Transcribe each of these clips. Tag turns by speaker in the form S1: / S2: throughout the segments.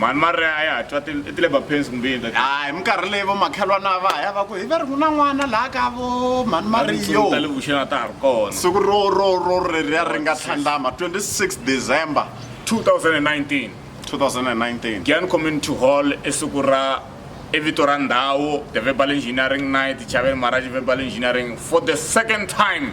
S1: mhani mari a ya ha twa ti-labour pains kumbe yini that a hi minkarhi leyi vo makhelwana va ha ya va ku hi va ri ku na n'wana laha ka vo mhani mariyo ta le vuxeni a ta ha ri kona siku ro ro ro reriya ri nga tlhandlama 26 december 2019 2019 gian community hall i siku ra i vito ra ndhawu the verbal engineering night chaveni maraji verbal engineering for the second time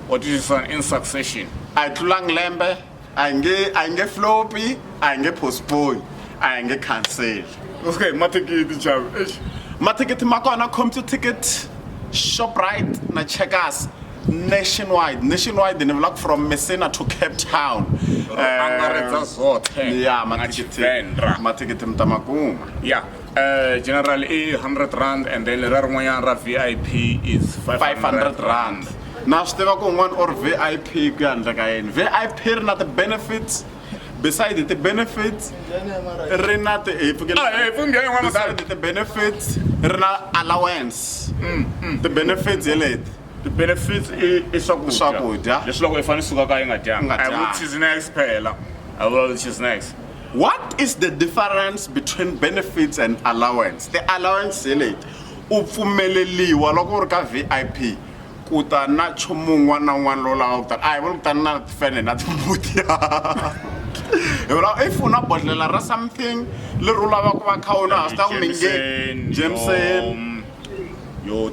S1: or this is an in succession a hi tlulangi lembe a hi nge a hi nge flopi a hi nge postpone a hi nge cancel okay mathikithi chavo eish mathikithi ma kona computer ticket shoprite na checkers nationwide nationwide ni vulaka from messina to cape town angaredza zothe ya mathikithi mathikithi mi ta ma kuma ya Eh, general i 100 rand and then lera rin'wanyana ra vip is 500 rand na swi tiva ku un'wana or vip ku ya handle ka yini vip ri na ti-benefits beside ti-benefits ri na ti- hi pfukela- Ah, eh, pfumbi ya yin'wana mudala. Beside ti-benefits ri na allowance ti-benefits hi leti ti-benefits i i swakudya Swakudya. leswi loko i fanele suka ka yi nga dyanga Nga I will dyanga. choose next phela I will choose next what is the difference between benefits and allowance the allowance hi leti u pfumeleliwa loko u ri ka vip ku ta na nchumu un'wana na un'wana lowu lava ku tana a hi vula ku tani na tifene na timbuti hi vula if u na bodlela ra something leri u lava ku va kha u na ha swi ta ku minge jameson yo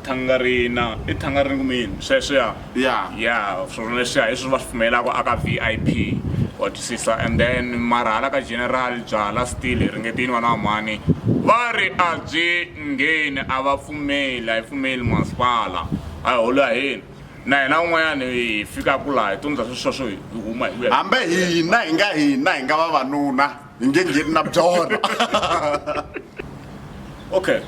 S1: thangarina i thangarini kumbe yini sweswiya ya ya swona leswiya hi swi va swi pfumelaka aka V_I_P wa twisisa and then mara hala ka general byalwa still hi ringete yini vana va mhani va ri a byi ngheni a va pfumeli a yi pfumeli masipala a hi holo ya hina na hina un'wanyana hi fikaku laha hi tundza swesweswo hi huma hi hambi hina hi nga hina hi nga vavanuna Ni nge ngheni na byona. Okay.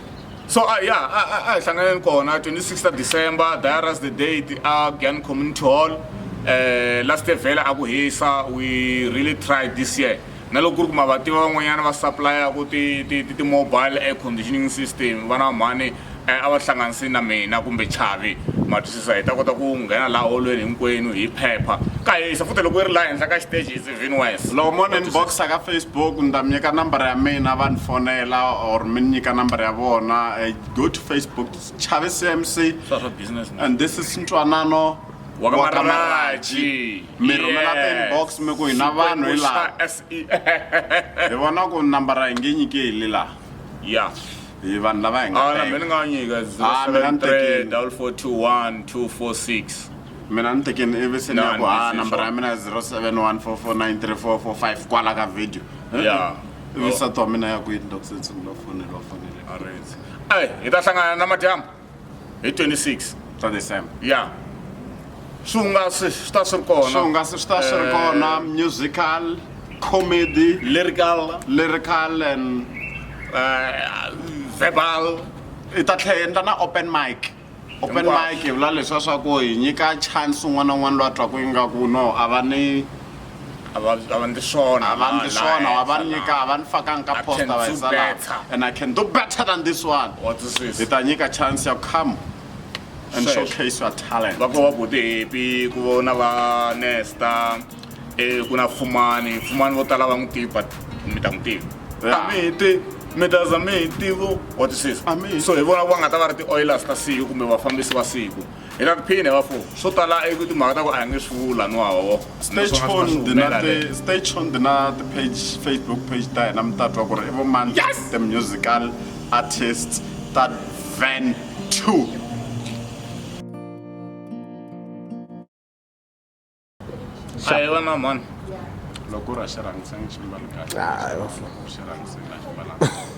S1: So uh, yeah, a a hi hlanganeni kona 26 December, Diaras the date a Gyan Community Hall. Eh last year vela aku hisa we really tried this year. Na loko ku ri ku mabativa van'wanyana va supplier ku ti ti ti mobile air conditioning system vana mhani eh, a va hlanganisi na mina kumbe chavi ma twisisa hi ta kota ku nghena laha holweni hinkwenu hi phepha ka hisa futhi loko yi ri laha henhla ka xiteji is even wes loko mo ni inboxa ka facebook ni ta mi nyika nambara ya mina va ni fonela or mi ni nyika nambara ya vona eh, go to facebook chavi cmc and this is ntwanano wakamaraji mi rhumela ti-inbox mi ku hina vanhu hi laha e hi vona ku nambara hi nge nyike hi le laha ya hi vanhu lava hi nga mina ni nga va nyika 073 4421 246 mina ni tekeni ivi se ni ya ku ha nambara ya mina ya 0714493445 kwala ka video ya ivi sati wa mina ya kwini loko se tshungula fonele wa fonele hi ta hlangana na madyambu hi 26 ta december ya swihungasi swi ta swi ri kona swihungasi swi ta swi ri kona eh, musical comedy lyrical lyrical and uh, verbal i ta tlhe endla na open mic open mic hi vula leswa swa ku hi nyika chance un'wana na un'wana loyi a twaku ingaku no a va ni a va a va ndli swona a va ndli swona wa va nyika a va ni fakanga ka posta va hisa laha and i can do better than this one hi ta nyika chance ya come and showcase your talent va ko va budepi ku vona va nesta e ku na fumani fumani vo tala va n'wi tivi but mi ta n'wi tivi a mi hi tivi mi ta za mi hi tivo wa twisisa so hi vona va nga ta va ri ti-oilers ta siku kumbe vafambisi va siku hi nga ku phini va fo swo tala i ku timhaka ta ku a hi nge swi vula niwawo stachon ti na ti-page facebook page ta hina mi ta twa ku ri i vo mani the musical artist ta van two a hi vona mani loko u ra xirhangisani ximbalo kahle xirhangisani a ximbalanga